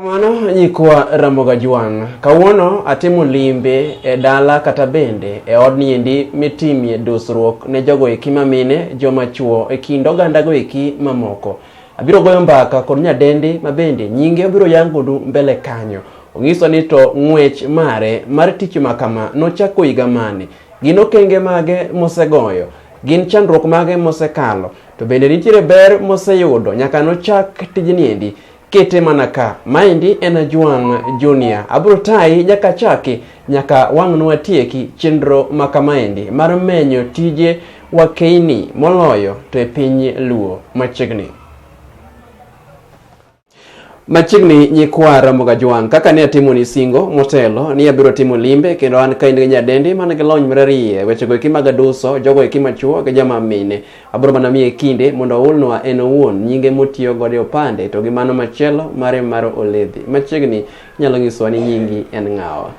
Kamano nyikwa Ramoga Jwang', kawuono atimo limbe e dala kata bende e od niendi mitimie dusruok ne jogo eki mamine, joma chuo e kind ogandago eki mamoko. Abiro goyo mbaka kod nyadendi ma bende nyinge obiro yangonu mbele kanyo. Onyiso ni to ng'wech mare mar tich ma kama nochako higa mane, gin okenge mage mosegoyo, gin chandruok mage mosekalo, to bende nitiere ber moseyudo nyaka nochak tijni endi. Kete mana ka. Maendi en Ajwang' Junior. Abiro tayi nyaka achaki nyaka wang'no watieki chenro ma kamaendi mar menyo tije wakeini moloyo to e piny Luo machiegni. Machiegni nyikwa Ramoga Jwang', kaka ne atimo ni singo motelo ni abiro timo limbe kendo an ka in gi nyadendi man gi lony marariye wechego eki mag aduso, jogo eki machuo gi joma mine. Abro mana miye kinde mondo oulnwa en owuon nyinge motiyo godo e opande to gi mano machielo mare mar oledhi. Machiegni inyalo nyisowa ni nyingi en ng'awa?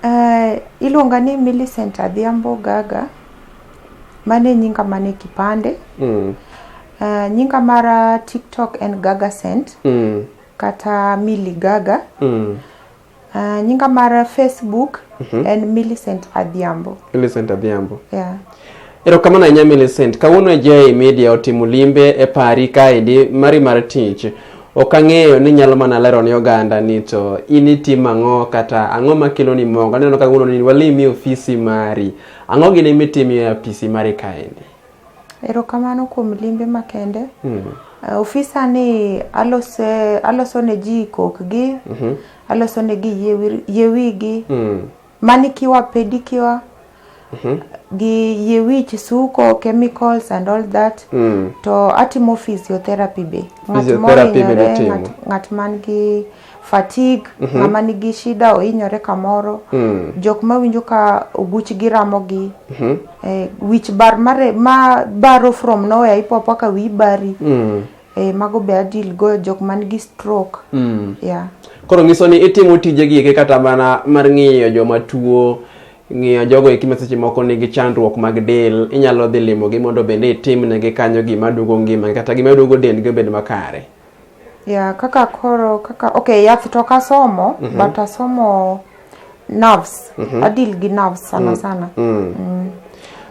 Uh, iluonga ni Millicent Adhiambo Gaga. Mano e nyinga man e kipande. Mm. Uh, nyinga mar TikTok en Gaga Cent Mm. kata Milly Gaga. Mm. Uh, nyinga mar Facebook mm -hmm. en Millicent Adhiambo. Millicent Adhiambo. Yeah. Erokamano ahinya Millicent. Kawuono e JA Media otimo limbe e pari kaendi mari mar tich. Ok ang'eyo ni nyalo mana lero ni oganda ni to in itimo ang'o kata ang'o makelo ni mogo. Aneno kawuono ni walimi ofisi mari. Ang'o gini mitimo e ofisi mari kaendi? Erokamano kuom limbe makende. Mm. Uh, ofisa ni alose aloso ne ji kokgi. Mm -hmm. Aloso ne gi yewigi. Mm. Manikiwa pedikiwa. Mm -hmm. gi yie wich suko chemicals and all that mm. to atimo physiotherapy be ng'at mohinyore ng'at man gi fatigue mm -hmm. ng'ama nigi shida ohinyore kamoro mm. jok ma winjo ka oguchgi ramogi mm -hmm. eh, wich bar mare ma baro from nowhere ipopo ka wi bari mm. eh, mago be adil go jok man gi stroke mm. yeah. koro nyiso ni itimo tije gi kata mana mar ng'iyo joma tuo ng'iyo jogo eki ma seche moko nigi chandruok mag del inyalo dhi limogi mondo bende itimnegi kanyo gima duogo ngima kata gima duogo dendgi obed makare Yeah, kaka koro kaka okay, yath to kasomo mm -hmm. but asomo nerves. Mm -hmm. Adil gi nerves sana mm. sana. Mm. Mm.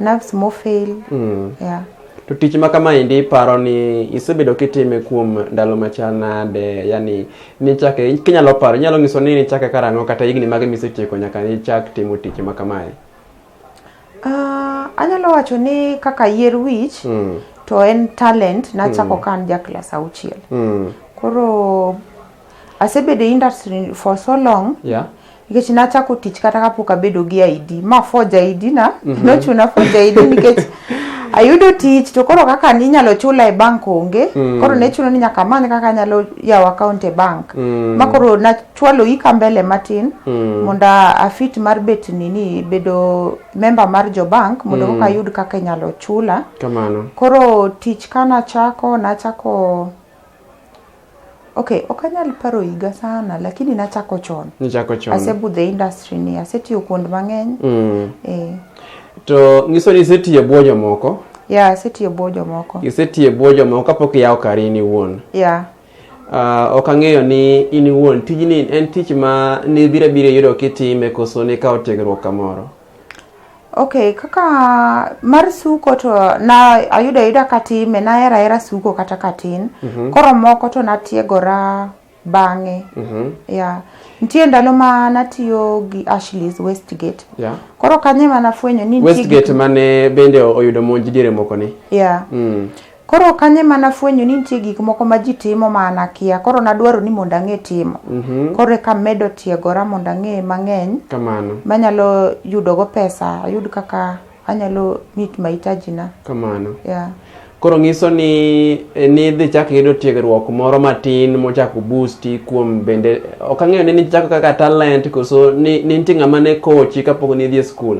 Nerves mo fail. Mm. Yeah. To tich ma kama indi paro ni isebedo kitime kuom ndalo machal nade? Yani ni chake kinyalo paro, inyalo nyiso ni ni chake karang'o kata higni mage misetieko nyaka ni chak timo tich ma kamae? Uh, anyalo wacho ni kaka yier wich mm. to en talent nachako mm. ka an ja klas auchiel mm. koro asebedo e industry for so long yeah nikech nachako tich kata kapok abedo gi ID ma forge ID na mm -hmm. nochuna forge ID nikech ayudo tich to koro kaka ninyalo chula e bank onge mm. koro ne chuno ni nyaka amany kaka anyalo yawo account e bank mm. ma koro chwalo ika mbele matin mm. mondo afit mar bet nini bedo member mar jo bank mondo mm. koka ayud kaka inyalo chula kamano koro tich ka nachako nachako okay ok anyal paro higa sana lakini nachako chon nichako chon asebudho e industry ni asetiyo kuond mang'eny mm. eh. to nyiso ni isetiyo bwo jomoko ya yeah, asetiyo bwo jomoko isetiyo bwo jomoko kapok iyawo kari ni wuon yeah. Uh, ok ang'eyo ni in iwuon tijni en tich ma nibiro abira yudo kitime koso nikawo tiegruok kamoro ok kaka mar suko to na ayudo ayuda katime nahero ahera suko kata katin mm -hmm. koro moko to natiegora bang'e mm -hmm. yeah. nitie ndalo ma natiyo gi ashleys westgate yeah. koro kanye manafwenyo ni westgate mane bende oyudo monj diere moko ni yeah. mm. Koro kanye ma nafwenyo ni nitie gik moko ma ji timo ma an akia, koro nadwaro ni mondo ang'e timo. Mhm. Koro eka amedo tiegora mondo ang'e mang'eny Kamano. manyalo yudogo pesa, ayud kaka anyalo meet mahitaji na. Kamano. Yeah. Koro ng'iso ni eh, nidhi chak iyudo tiegruok moro matin mochako boosti kuom bende ok ang'eyo ni nichako kaka talent koso ni ni nitie ng'ama ne kochi kapok nidhi e skul.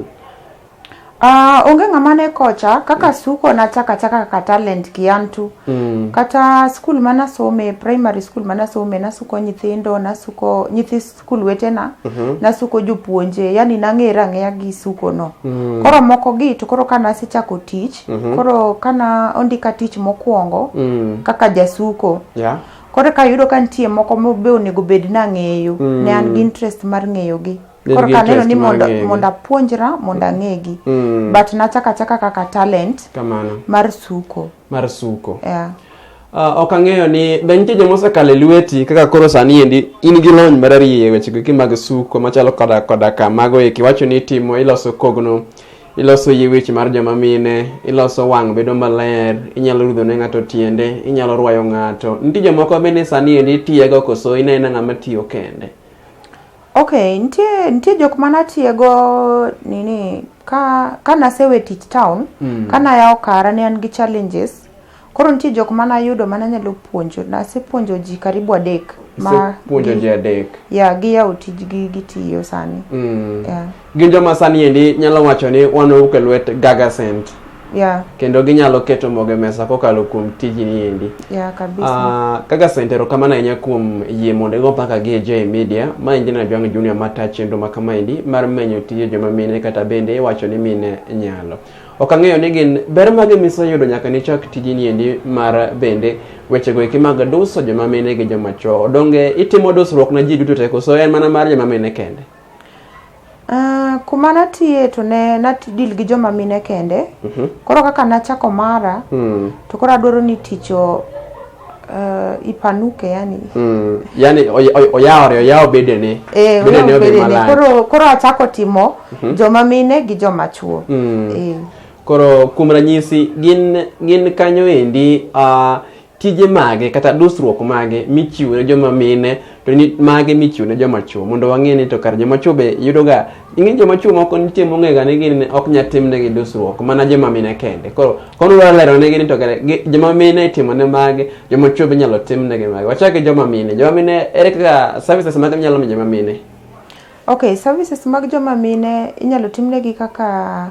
Uh, onge ng'ama ne kocha kaka mm. suko nachaka chaka kaka talent kiantu mm. kata skul manasome primary skul manasome nasuko nyithindo nasuko nyithi skul wetena mm -hmm. nasuko jopuonje yani nang'era ang'eya gi suko no mm. koro moko gi to koro kana asechako tich mm -hmm. koro kana ondika tich mokwongo mm. kaka jasuko yeah. koro ka yudo ka nitie moko mobe onego bed nang'eyo mm. ne an gi mm. interest mar ng'eyogi Bed koro gi kaneno interest ni mar mondo ng'egi. mondo apuonjra mondo ang'egi Mm. but nachaka chaka kaka talent kamano mar suko mar suko yeah. Ah, ok ang'eyo ni be nitie joma osekalo e lweti kaka koro sani endi in gi lony marariye e wechego eki mag suko machalo koda koda ka mago eki wacho ni itimo iloso kogno iloso yie wich mar joma mine iloso wang' bedo maler inyalo rudho ne ng'ato tiende inyalo rwayo ng'ato nitie jomoko bende sani endi itiyego koso inena ng'ama tiyo kende Ok, nitie nitie jok ma natiego nini ka ka nasewe tich town mm. ka nayawo kara ne an gi challenges koro nitie jok ma nayudo ma nanyalo puonjo nasepuonjo ji karibu adek ma puonjo ji adek ya giyawo tijgi gitiyo sani mm. yeah. Gin joma sani endi nyalo wacho ni wan owuok e lwet Gaga Scent. Yeah. Kendo ginyalo keto mogo e mesa kokalo kuom tijni endi. Yeah, kabisa. Ah, Gaga Scent erokamano ahinya kuom yie mondo igo mpaka gi e J Media. Ma endi na Jwang' Junior mata chenro ma kama endi mar menyo tije joma mine kata bende iwacho ni mine nyalo. Ok ang'eyo ni gin ber mage miseyudo nyaka nichak tijni endi mar bende wechego eki mag duso joma mine gi joma chwo. Donge itimo dusruok na ji duto te koso en mana mar joma mine kende? Ah, kuma natiye to ne natidil gi joma mine kende koro kaka nachako mara Mm. to koro adwaro ni tich o- eh, ipanuke yani Mm. yani oy- oy- oyawore oyawo bedene Eh, bedene oyawo obed bedene. malach koro koro achako timo joma mine gi joma chuo Mm. Eh. koro kuom ranyisi gin gin kanyo endi uh, tije mage kata dusruok mage michiwo ne joma mine to ni mage michiwo ne joma chwo mondo wang'e ni to kar joma chwo be yudoga ing'e joma chwo moko nitie mong'ega ni gin ok nya timnegi dusruok mana joma mine kende koro kono dwa lero negi ni to kare gi- joma mine itimo ne mage joma chwo be inyalo timnegi mage wachak gi joma mine joma mine ere kaka services mage minyalo mi joma mine Okay, services mag joma mine inyalo timnegi kaka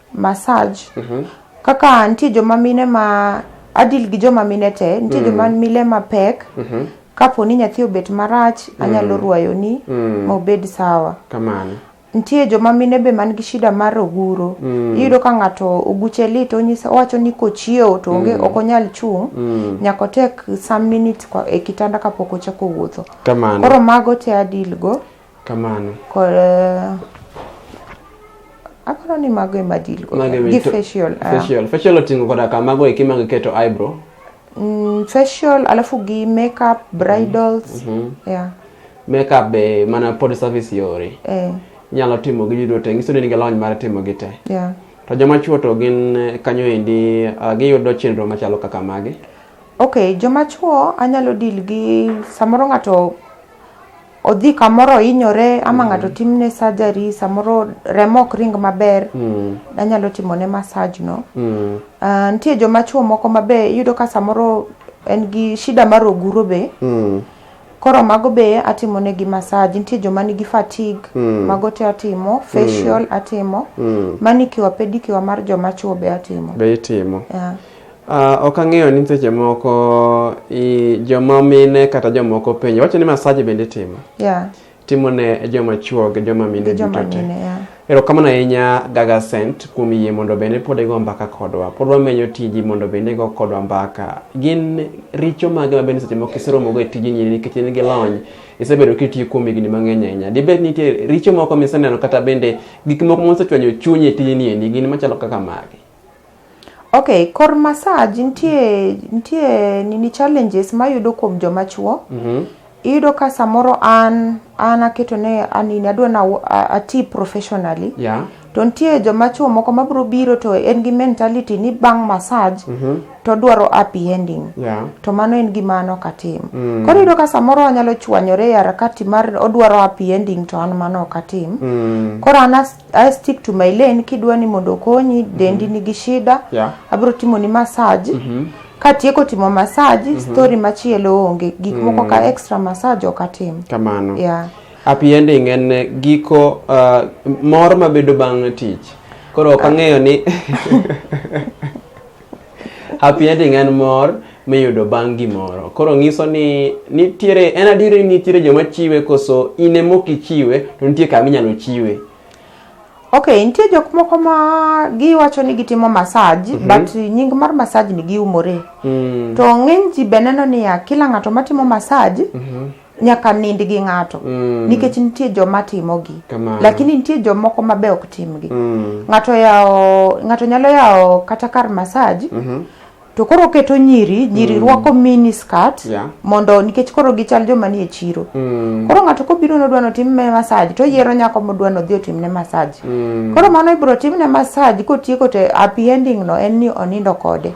massage kaka nitie joma mine ma adil gi joma mine te nitie joma mile mapek kapo ni nyathi obet marach anyalo rwayoni ma obed sawa kamano nitie joma mine be man gi shida mar oguro iyudo ka ng'ato oguche lit onyisa owacho ni kochiewo to onge ok onyal chung' nyaka otek some minutes kwa- e kitanda kapok ochako wuotho kamano koro mago te adilgo Kamano. Kod eh, aparo ni mago ema deal go. Mago ema Gi ito- facial. ah. Facial. Facial oting'o koda ka mago eki mag keto eyebrow. Mm, facial alafu gi makeup, bridals. Yeah. Makeup be mana pod service yore. Eh, Inyalo timo gi duto te. Nyiso ni nigi lony mar timo gi te. yeah. To joma chuo to gin eh, kanyo endi ah, giyudo chenro machalo kaka magi. Okay, joma chuo anyalo deal gi samoro ng'ato odhi kamoro ohinyore ama mm. ng'ato timne surgery samoro remo ok ring maber mm. anyalo timone massage no mm. uh, nitie joma chuo moko mabe iyudo ka samoro en gi shida mar oguro be mm. koro mago be atimo ne gi massage nitie joma nigi fatigue mm. mago te atimo mm. facial mm. atimo mm. manicure pedicure mar joma chuo be atimo be itimo yeah. Uh, ok ang'eyo ni seche moko i, joma mine kata jomoko penjo wacho ni masaji bende itimo yeah. timo ne joma chuo gi joma mine duto te yeah. erokamano ahinya gaga sent kuom yie mondo bende pod igo mbaka kodwa pod wamenyo tiji mondo bende igo kodwa mbaka gin richo mage ma bende seche moko iseromogo e tiji nyiri nikech in gi lony isebedo kitiyo kuom higni mang'eny ahinya dibed nitie richo moko miseneno kata bende gik moko mosechwanyo chunyi e tijni endi gin machalo kaka mage Ok, kor massage nitie nitie nini challenges mayudo kuom joma chuo. Iyudo ka samoro an an aketo ne an nini adwa na ati professionally. Yeah. To nitie joma chuo moko mabiro biro to en gi mentality ni bang' massage to odwaro happy ending. Yeah. To mano en gima an ok atim. Koro iyudo ka samoro wanyalo chwanyore e harakati mar odwaro happy ending to an mano ok atim. Koro an as- I stick to my lane kidwa ni mondo okonyi dendi nigi shida Yeah. abiro timo ni massage katieko timo massage story machielo onge gik moko ka extra massage ok atim kamano yeah. happy ending en eh, giko uh, mor mabedo bang' tich koro ok ang'eyo ni Happy ending en mor miyudo bang' gimoro. Koro nyiso ni nitiere en adier ni nitiere joma chiwe koso in ema ok ichiwe to nitie kama inyalo chiwe. Okay, nitie jok moko ma giwacho ni gitimo massage mm -hmm. but nying mar massage ni giumore. Mm. To ng'eny ji be neno niya kila ng'ato matimo massage mm -hmm. nyaka nind gi ng'ato mm. nikech nitie joma timogi Kamana. lakini nitie jomoko ma be ok timgi mm. ng'ato yawo ng'ato nyalo yawo kata kar masaj mm -hmm. to koro oketo nyiri nyiri mm. rwako mini skirt yeah. mondo nikech koro gichal joma nie chiro mm. koro ng'ato kobiro nodwa notimne masaj to yiero nyako modwa nodhi otimne masaj mm. koro mano ibiro timne masaj kotieko to happy ending no en ni onindo kode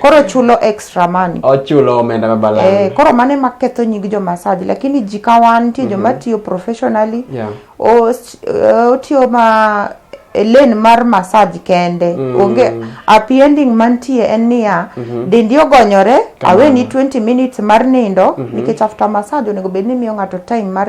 koro chulo extra money ochulo omenda ma balang eh, koro mano ema ketho nying jo massage lakini ji ka wan nitie joma mhm. tiyo professionally yeah. Eh, otiyo ma e lane mar massage kende mm. onge happy ending mantie en niya mm -hmm. dendi ogonyore aweni 20 minutes mar nindo mm -hmm. nikech after massage onego bed ni miyo ng'ato time mar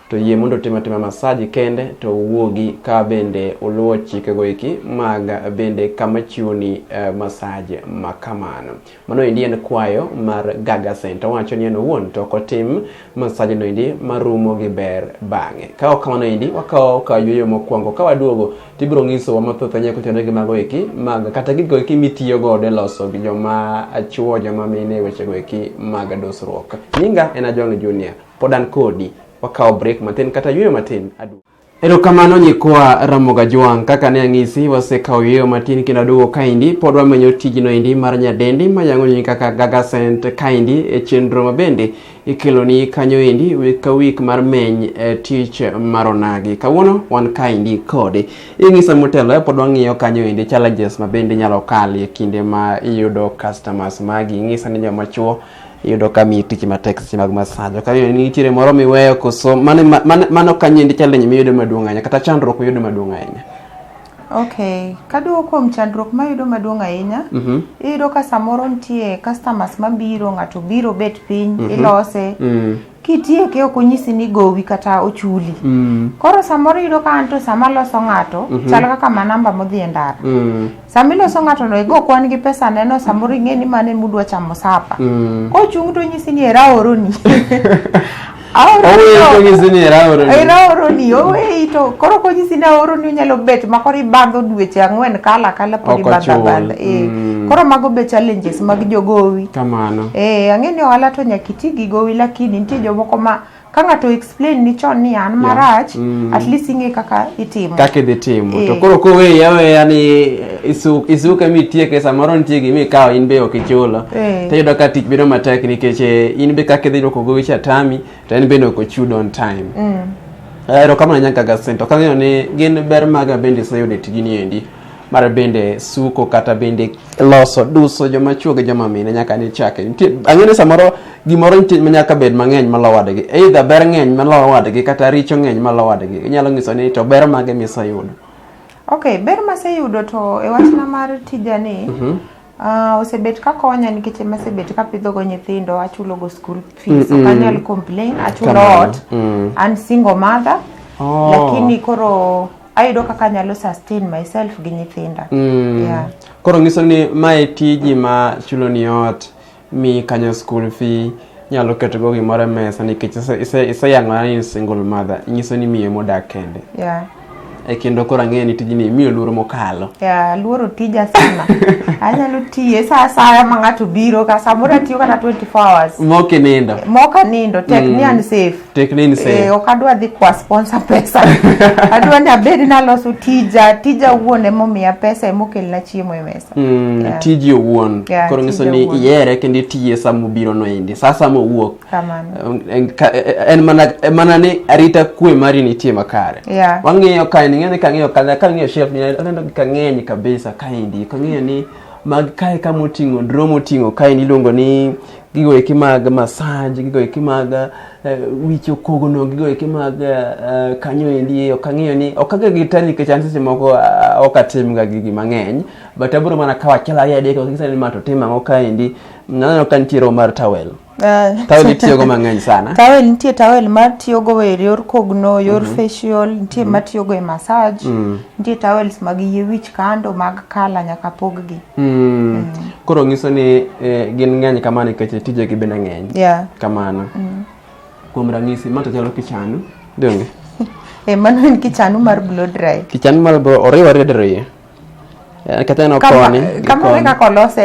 to yie mondo otim atima masaji kende to uwuogi ka bende uluwo chikego eki mag bende kama chiwoni eh, masaji ma kamano. Mano endi en kwayo mar Gaga Center. Owacho ni en owuon to ok otim masaji no endi marumo gi ber bang'e. Ka ok kamano endi wakawo ka yueyo mokwongo ka waduogo to ibiro nyisowa mathoth anyalo kuchano gi mago eki mag kata gigo eki mitiyo godo e loso gi joma chwo joma mine e wechego eki mag dusruok. Nyinga en Ajwang' Junior. Pod an kodi. Wakawo break matin kata yueyo matin. Aduogo. Erokamano nyikwa Ramoga Jwang', kaka ne ang'isi wasekawo yueyo matin kendo aduogo kaendi pod wamenyo tijno endi mar nyadendi mayang'oni kaka Gaga Scent kaendi e chenro ma bende ikeloni kanyo endi wik ka wik mar meny e tich mar onagi. Kawuono wan kaendi kode. Ing'isa motelo e pod wang'iyo kanyo endi challenges ma bende inyalo kale kinde ma iyudo customers magi. Ing'isa ni joma chuo iyudo ka miyi tich matek seche mag masajo ka iyudo ni nitiere moro miweyo koso mano ma- mano- mano ka nyindi challenge miyudo maduong' ahinya kata chandruok miyudo maduong' ahinya Okay, kaduogo kuom chandruok mayudo maduong' ahinya, Mhm. iyudo ka samoro nitie customers mabiro, ng'ato biro bet piny, ilose, Mm. kitieke ok onyisi ni gowi kata ochuli mm. koro samoro yudo ka anto sama loso ng'ato mm -hmm. chal kaka manamba modhi e ndara mm. sama iloso ng'ato no igo kwan gi pesa neno samoro ing'e ni mane mudwa chamo sapa mm. kochung' to onyisi ni era oroni aoroni oweyi to koro konyisi ni aoroni onyalo bet ma koro ibandho dweche ang'wen kala kala pod ibandhabandha eh, mm. koro mago be challenges mag jogowi kamano eh, ang'e ni ohala to nyaka ti gi gowi lakini nitie jomoko ma ka ng'ato explain ni chon ni an marach mm. at least ing'e kaka itimo kaka idhi timo to eh. koro koweyi aweya ni isuke mitieke samoro nitie gima ikawo in be ok ichulo eh. to iyudo ka tich bedo matek nikech eh, in be kaka idhi dwoko gowi cha tami to en bende ok ochud on time mm. erokamano nyaka gasento kang'eyo ni gin ber maga bende iseyudo e tijini endi mar bende suko kata bende loso duso joma chwo gi joma mine nyaka ni chake nitie ang'e ni samoro gimoro nitie ma nyaka bed mang'eny malowo wadgi either ber ng'eny malowo wadgi kata richo ng'eny malowo wadgi inyalo nyiso ni to ber mage miseyudo ok ber maseyudo to e wachna mar tijani mm-hmm. Uh, osebet ka konya nikech ema asebet ka pidhogo nyithindo achulogo school fees mm -mm. okanyal complain achulo ot mm. an single mother oh. lakini koro ayudo kaka anyalo sustain myself gi nyithinda mm. yeah. koro ngiso ni mae tiji ma chulo ni ot mi kanyo school fee nyalo keto go gimoro e mesa nikech iseyang'ona ni single mother nyiso ni miyo modak kende yeah. e kendo koro ang'eyo ni tijni miyo luoro mokalo yeah, luoro tija sana anyalo tiye sa asaya ma ng'ato biro ka samoro atiyo kata 24 hours mokinindo mokanindo tek mm. ni an safe tekne ni Eh, same ok adwa dhi kwa sponsor pesa adwa ni abed naloso tija tija wuon emomiya pesa emokelna chiemo e mesa Mm, Yeah. tiji owuon Yeah, koro nyiso tiji ni owuon. ihere kendo itiye sama obiro no endi saa sama owuok kamano Um, en- ka- eh, en mana en mana ni arita kwe mari nitie makare Yeah. wang'iyo kae ning'eyo ni kang'iyo ka kang'iyo shelf ni aneno ka ng'eny kabisa kaendi kang'iyo ni mag kae kama oting'o drum oting'o kaendi iluongo ni gigo eki mag massage gigo eki mag eh, wicho kogono gigo eki mag eh, kanyo endi ok ang'eyo ni ok aga gi tani nikech an seche moko ah, ok atimga gigi mang'eny but abiro mana kawo achiel ariyo adek ok gisani ma to tim ang'o ka endi naneno ka nitie roho mar towel Ah, towel itiyogo mang'eny sana towel nitie towel ma tiyogo e yor kogno yor facial nitie ma tiyogo e massage nitie towels mag yie wich kando mag kala nyaka poggi Mm. Koro ngiso ni eh, gin ng'eny kama nikech tijegi bende ng'eny Yeah. kamano. Mm. Kuom ranyisi ma to chalo kichanu donge? E mano en kichanu mar blow dry. Kichanu mar bro oriwo ariyo dero iye. Eh, Kata en Kama oponi. gi kama koni. kaka olose.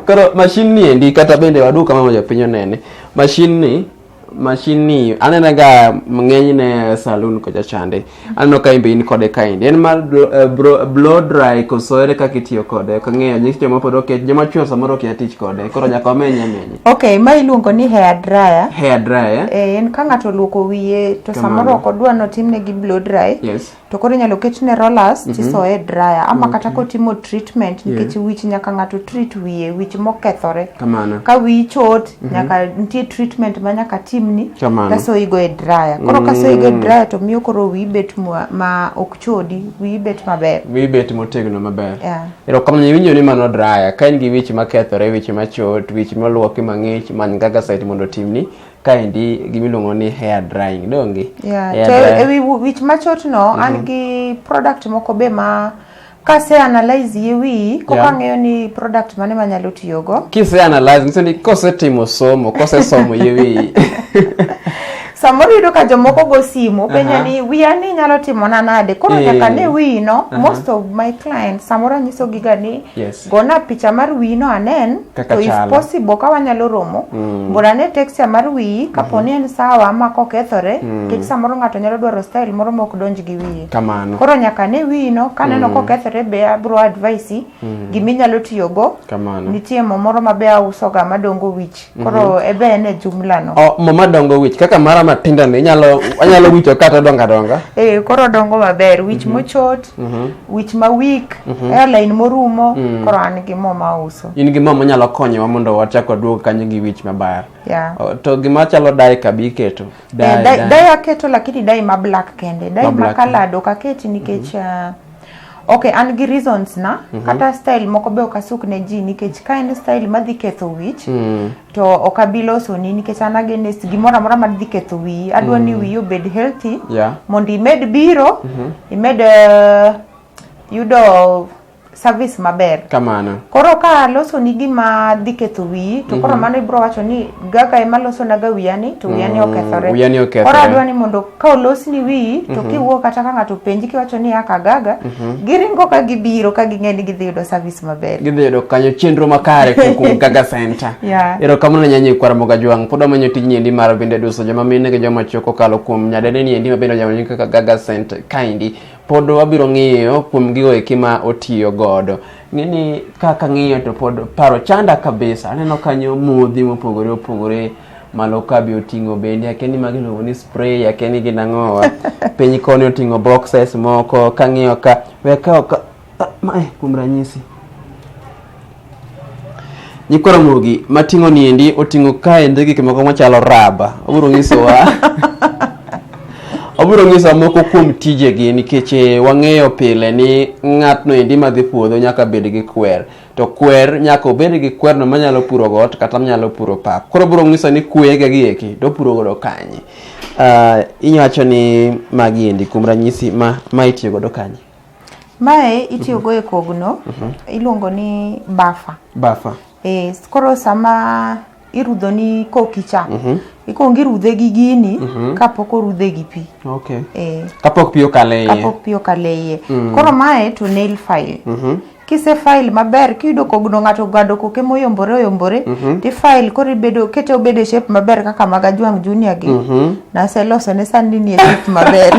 Koro mashin ni endi kata bende wadu kama moja piny onene. Mashin ni mashin ni anena ga ng'eny ne saloon kocha chande aneno ka imbe in kode kaendi en mar eh, blow dry koso ere kaka itiyo kode ok ang'eyo nyis joma pod okia joma chwo samoro okia tich kode koro nyaka wamenye amenye ok ma iluongo ni hair dryer hair dryer eh, en ka ng'ato oluoko wiye to samoro ok odwa notimne gi blow dry yes. to koro inyalo ketne rollers mm -hmm. tisoye dryer ama okay. kata kotimo treatment nikech yeah. wich nyaka ng'ato treat wiye wich mokethore Kamana. ka wiyi chot mm -hmm. nyaka nitie treatment ma nyaka timni kasoyigo e dryer koro mm. kasoyigo e mhm. dryer to miyo koro wiyi bet ma, ma ok chodi wiyi bet maber wiyi bet motegno maber yeah. erokamano iwinjo ni mano dryer ka in gi wich makethore wich machot wich moluoki mang'ich many gaga site mondo timni kaendi gimiluongo ni hair drying donge yeah. hair drying. ewi wich machot no mm -hmm. an mhm. gi product moko be ma kase analyze ye wi koka yeah. ng'eyo ni product mane manyalo tiyogo kise analyze nyiso ni kosetimo somo kosesomo ye wi samoro yudo ka jomoko go simu penjo uh -huh. ni wiya ni nyalo timona nade koro yeah. nyaka ne wino uh -huh. most of my clients samoro anyisogiga ni yes. Gona picha mar wiyi no anen Kaka to if chalo. possible ka wanyalo romo mondo ane texture mar wiyi kapo ni en sawa ma kokethore nikech samoro ng'ato nyalo dwaro style moro ma ok donj gi wiye Kamano. koro nyaka ne wiyi no kaneno kokethore be abro advise gima inyalo tiyogo Kamano. nitie mo moro ma be ausoga madongo wich Koro mm -hmm. ebe ne jumla no. Oh, mama dongo wich kaka mara matinda ni nyalo anyalo wicho kata donga donga. Eh koro dongo maber wich mm -hmm. mochot, mm -hmm. wich ma weak, mm -hmm. airline morumo, mm -hmm. koro an gi mama uso. In gi mama nyalo konyowa mondo wachak waduog kanyo gi wich maber. Yeah. Oh, to gima chalo dai kabi keto. Dai, eh, dai, dai. dai aketo lakini dai ma black kende. Dai ma, ma colored ok aketi nikech mm -hmm. uh, ok an gi reasons na mm -hmm. kata style moko be ok asuk ne ji nikech ka en style madhi ketho wich mm. to ok abi losoni nikech an against gimoro amora madhi ketho wiyi adwa mm. ni wiyi obed healthy yeah. mondo imed biro mm -hmm. imed uh, yudo service maber kamano koro ka losoni gima dhi ketho wiyi to koro mm -hmm. mano ibro wacho ni gaka ema losonaga wiyani to wiyani okethore wiyani okethore. koro adwa ni mondo ka olosni wiyi to kiwuo kata ka ng'ato penji kiwacho ni akagaga giringo ka gibiro ka ging'e ni gidhi yudo service maber gidhi yudo kanyo chenro makare kuom- kuom gaga center Yeah. erokamano ne nyanyi kwara moga jwang' pod wamanyo tijni endi mar bende duso joma mine gi joma chwo kokalo kuom nyadendeni endi mabende onyalo kaka gaga center kaendi pod wabiro ng'iyo kuom gigo eki ma otiyo godo Ng'eni kaka ng'iyo to pod paro chanda kabisa. Aneno kanyo modhi mopogore opogore malo ka be oting'o bende akeni magi luongo ni spray akeni gin ang'owa piny koni oting'o boxes moko kang'iyo ka weka ka, ka, ka, ma, eh, kuom ranyisi Nyikwa Ramogi mating'o niendi oting'o kaendi gik moko machalo raba. Obiro nyisowa obiro nyisowa moko kuom tijegi nikech eh, wang'eyo pile ni ng'atno endi madhi puodho nyaka bed gi kwer. To kwer nyaka obed gi kwerno manyalo puro got kata manyalo puro pap. Koro obiro nyiso ni kwege gi eki to opuro godo kanye. Ah, inyacho ni magi endi kuom ranyisi ma ma itiyo godo kanye. Mae itiyogo e kogno, iluongo ni bafa. Bafa. Eh, koro sama irudho ni koki cha, ikwong irudhe gi gini kapok orudhe gi pi. Okay. Eh, Kapok pi okale iye. kapok pi okale iye. Koro mae to nail file. kise file maber kiyudo kogno ng'ato ogado koke moyombore oyombore mm -hmm. tifile koro ibedo kete obedo e shape maber kaka mag ajwang' junior gi mm -hmm. naseloso ne sani nie shape maber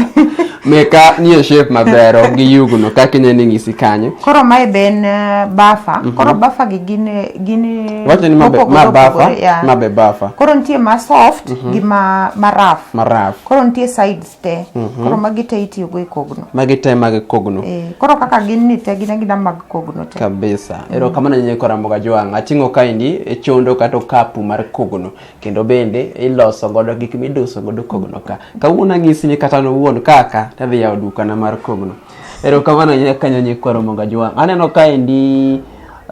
meka nie shape maber ok giyugno kaka ine ni ng'isi kanyo koro mae be en eh, bafa mm -hmm. koro bafa gi gin eh, gin eh, wacho ni mabe ma bafa yeah. mabe bafa koro nitie ma soft mm -hmm. gi ma ma rough ma rough koro nitie sides te mhm. koro magi te itiyo go e kogno magi te mag kogno eh, koro kaka gin ni te gin agina mag kogno te kabisa mm. ero kamano nyinyi kora mboga jwang atingo kaendi e chondo kata okapu mar kogno kendo bende iloso godo gik miduso godo kogno ka kawuono ang'isi ni kata nowuon kaka tadhi yawo dukana mar kogno ero kamano nyinyi kanyo nyinyi kora mboga jwang aneno kaendi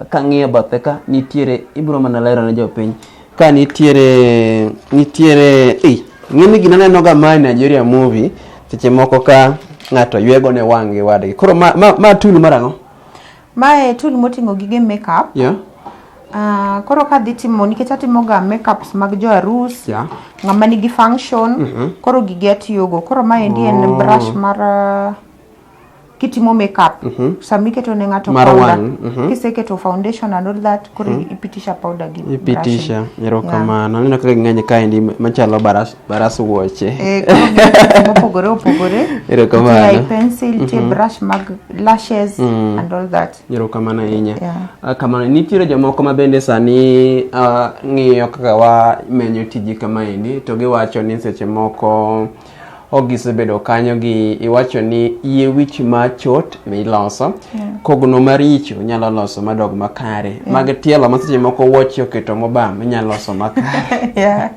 kang'iyo bathe ka nitiere ibro mana lero ne jopiny ka nitiere nitiere ei ng'eni gina neno ga ma Nigeria movie seche moko ka ng'ato ywego ne wang' gi wadgi koro ma, ma, ma tool mar ang'o Mae tool moting'o gige makeup. yeah. Ah, koro ka adhi timo nikech atimoga makeups mag jo arus Yeah. ng'ama nigi function koro gige atiyogo koro maendi en Oh. brush mar ah, kitimo makeup mm -hmm. sama iketo ne ng'ato mar powder mm -hmm. kiseketo foundation and all that koro mm -hmm. ipitisha powder gi ipitisha erokamano aneno kaka ng'eny kaendi machalo baras baras wuoche eh mopogore opogore erokamano pencil mm -hmm. tie mhm. brush mag lashes mm -hmm. and all that erokamano ahinya yeah. Ah, kamano nitiere jomoko ma bende sani uh, ng'iyo kaka wa menyo tiji kama endi to giwacho ni seche moko ok gisebedo kanyo gi iwacho ni yie wich ma chot miloso yeah. kogno maricho nyalo loso madog makare yeah. mag tielo ma seche moko wuochi oketo mobam inyalo loso makare yeah.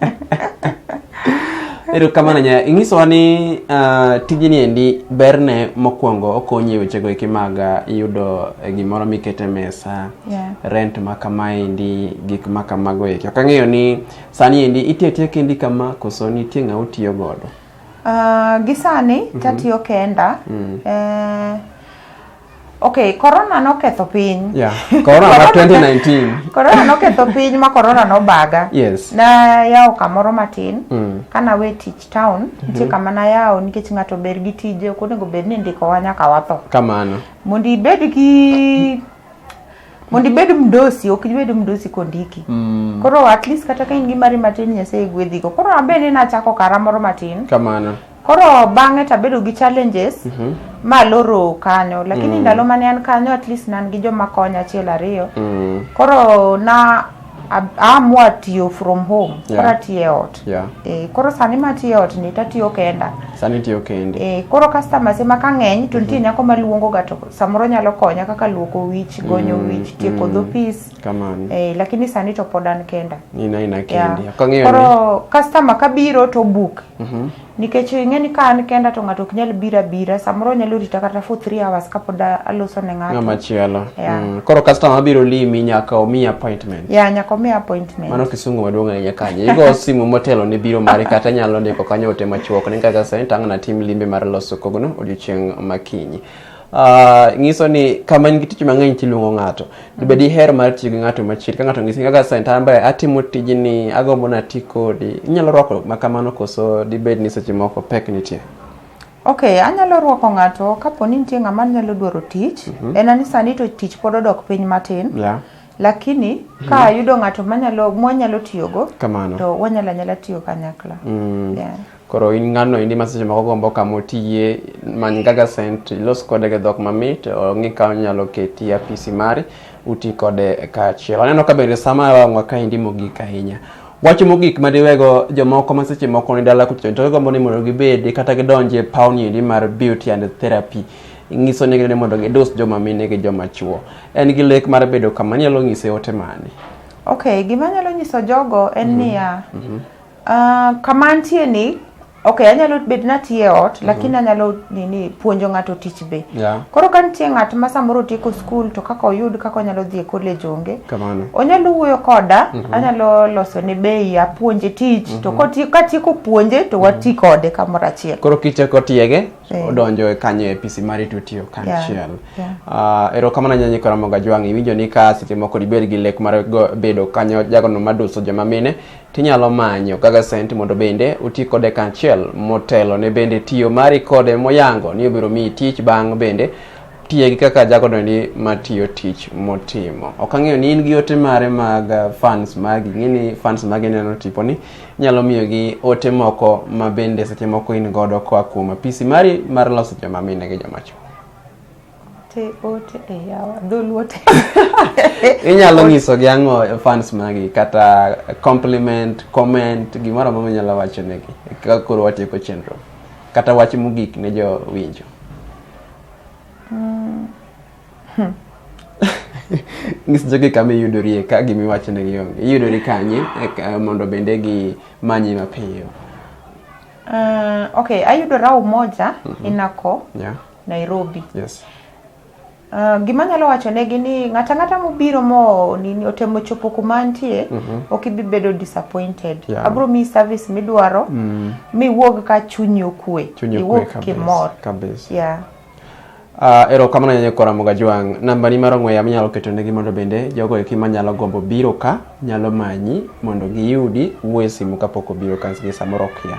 ero kamano nya ing'isowa ni uh, tijni endi berne mokwongo okonyi e wechego eki mag uh, yudo e gimoro mikete mesa yeah. rent ma kama endi gik ma kamago eki ok ang'eyo ni Sani endi itiyo tiyo kendi kama koso nitie ng'ama utiyo godo? Uh, gi sani mm -hmm. tatiyo kenda mm. eh, Okay, corona noketho piny. Yeah. Corona ma 2019. corona noketho piny ma corona nobaga. Yes. Na yawo kamoro matin. Mm. Kana we teach town, mm -hmm. nitie kama na yawo nikech ng'ato ber gi tije, ok onego bed ni ndiko wa nyaka watho. Kamano. Mondo ibed gi mondo ibed mdosi ok ibed mdosi kondiki mm. koro at least kata ka in gi mari matin nyasaye gwedhigo koro abe ne nachako kara moro matin kamano koro bang'e tabedo gi challenges mm -hmm. ma loro kanyo lakini mm. ndalo mane an kanyo at least nan gi joma konya achiel ariyo mm. koro na amua tiyo from home yeah. koro atiyo e ot yeah. e, koro sani ma atiyo e ot ni to atiyo kenda sani tiyo kendi e, koro customers ema ka ng'eny to nitie mm. nyako maluongo ga to samoro nyalo konya kaka luoko wich gonyo mm, wich tieko mm. dhopis e, lakini sani to pod an kenda ina ina kendi yeah. koro customer kabiro to book Mm-hmm. Nikech ing'e ni ka an kenda to ng'ato ok nyal bira bira, samoro nyalo rita kata for three hours kapod aloso ne ng'ato. Ng'ama chielo. Yeah. Mm. Koro customer biro limi nyaka omi appointment. Yeah, nyaka omi appointment. Mano kisungu maduong' ahinya kanye. Igo simu motelo ne biro mari kata nyalo ndiko kanyo ote machuok ni kaka sentang' na tim limbe mar loso kogno odiochieng' makinyi. Uh, nyiso ni kama in gi tich mang'eny tiluongo ng'ato mm. be diher mar tiyo gi ng'ato machiegni ka ng'ato ng'isi kaka sentamba atimo tijni agombo na ti kodi inyalo rwako makamano koso dibed ni seche moko pek nitie ok anyalo rwako ng'ato kapo ni nitie ng'ama nyalo dwaro tich mm -hmm. en ani sani to tich pod odok piny matin yeah lakini mm. ka ayudo ng'ato manyalo mwanyalo tiyogo to wanyalo anyala tiyo kanyakla mm. yeah. Koro in ng'ano endi ma seche moko gombo kama otiye, many Gaga Scent, ilos kode gi dhok mamit, ong'i ka onyalo keti e apisi mari, uti kode kaachiel. Aneno ka bende sa ma wang'wa kaendi mogik ahinya. Wach mogik ma diwego jomoko ma seche moko ni dala kuchocho to gigombo ni mondo gibedi kata gidonj e pawni endi mar beauty and therapy, ing'iso negi ni mondo gidus joma mine gi joma chwo. En gi lek mar bedo kama, inyalo ng'ise ote mane? Okay, gima anyalo nyiso jogo en niya, Uh, kama antie ni okay anyalo bet natie ot mhm. lakini anyalo nini puonjo ng'ato tich be yeah. koro ka nitie ng'at ma samoro otieko skul to kaka oyud kaka onyalo dhi e college onge kamano onyalo wuoyo koda mm -hmm. anyalo loso ne bei apuonje tich mm -hmm. to mhm. katieko puonje to mhm. wati kode kamoro achiel koro kichako tiege yeah. odonjo e kanyo e pisi mari to tiyo kanchiel yeah. yeah. uh, ah, erokamano nyanyi karamoga jwang' iwinjo ni ka seche moko dibed gi lek mar bedo kanyo jagono maduso joma mine tinyalo manyo kaka sent mondo bende uti kode kanchiel motelo ne bende tiyo mari kode moyango ni obiro miyi tich bang' bende tiye gi kaka jagodo ni matiyo tich motimo ok ang'eyo ni in gi ote mare mag uh, fans magi ng'e ni fans magi neno tipo ni inyalo miyo gi ote moko ma bende seche moko in godo koa kuom apisi mari mar loso joma mine gi joma chwo te ote e yawa dholuo te inyalo nyiso gi ang'o fans magi kata compliment comment gimoro amoro minyalo wacho negi ka koro watieko chenro kata wach mogik ne jo winjo mm. hmm. ngis jogi kama iyudorie ka gimiwacho negi onge iyudori kanye eh, mondo bende gi manyi mapiyo uh, okay ayudora umoja mm -hmm. inako yeah. Nairobi. Yes. Uh, gima nyalo wacho negi ni ng'ata ng'ata mobiro mo nini otemo chopo kuma antie mm -hmm. ok ibi bedo disappointed yeah. abro miyi service midwaro mm. miwuog ka chunyi okwe iwuog kimor kabisa yeah. Uh, erokamano nyanyo kora moga jwang namba ni mar ong'we yamo inyalo keto negi mondo bende jogo eki manyalo gombo biro ka nyalo manyi mondo giyudi wuo e simu kapok obiro ka samoro okia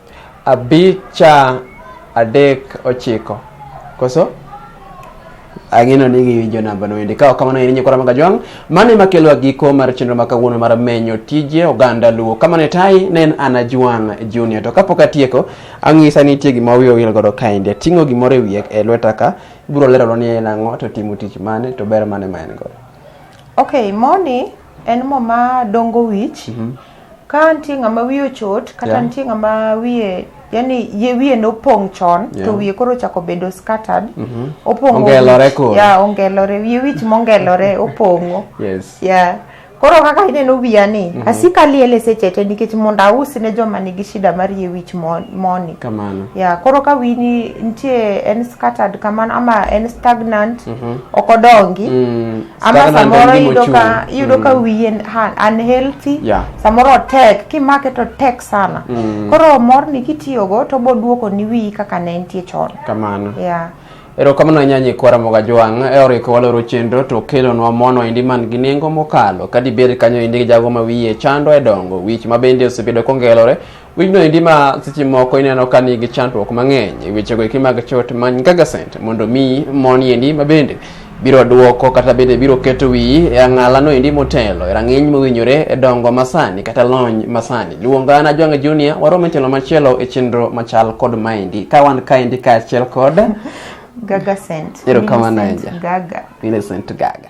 Abicha adek ochiko. Koso? ang'eno ni giwinjo namba no endi kaok kamano en nyikora maga jwang' mano ema kelo giko mar chenro ma kawuono mar menyo tije oganda luo kamano tai ne en ana jwang' junior to kapok atieko ang'isa ni nitie gima wiye owil godo kaendi ating'o gimoro e wiye e lweta ka ibiro lerona ni en ang'o to timo tich mane to ber mane ma en godo okay moni En mo ma dongo wich. Ka nitie ng'ama wiye ochot kata Mhm. Yeah. nitie ng'ama wiye yani ye wiye nopong' chon to Yeah. wiye koro ochako bedo scattered. Opong'o Ongelore wich. koro. Yeah, ongelore. Wiye wich mongelore opong'o. Yes. Yeah. Koro kaka ineno wiya ni, asika liele seche te nikech mondo aus ne joma nigi shida mar yie wich mo- moni. Kamano. Yeah, koro ka wini nitie en scattered kamano ama en stagnant, ok odongi, Mm. ama Sitaka na samoro ndalini iyudo ka mochung'. iyudo ka wiye en- ha- unhealthy Yeah. samoro tek kimake to tek sana koro morni kitiyogo to boduoko ni wiyi kaka ne entie chon kamano yeah. erokamano ahinya nyikwara moga jwang' e oriko waloro chenro to kelonwa mono endi man gi nengo mokalo ka dibed kanyo endi jago ma wiye chando e dongo wich ma bende osebedo kongelore Winyno endi ma seche moko ineno ka nigi chandruok mang'eny e wechego eki mag chot many gagasent mondo mi moni endi ma bende biro duoko kata bende biro keto wiyi e ang'alano endi motelo e rang'iny mowinjore e dongo masani kata lony masani luonga na jwang' junior warom e tielo machielo e chenro machal kod maendi ka wan kaendi kaachiel kod Gaga scent. Erokamano Millicent ahinya. Gaga. Millicent Gaga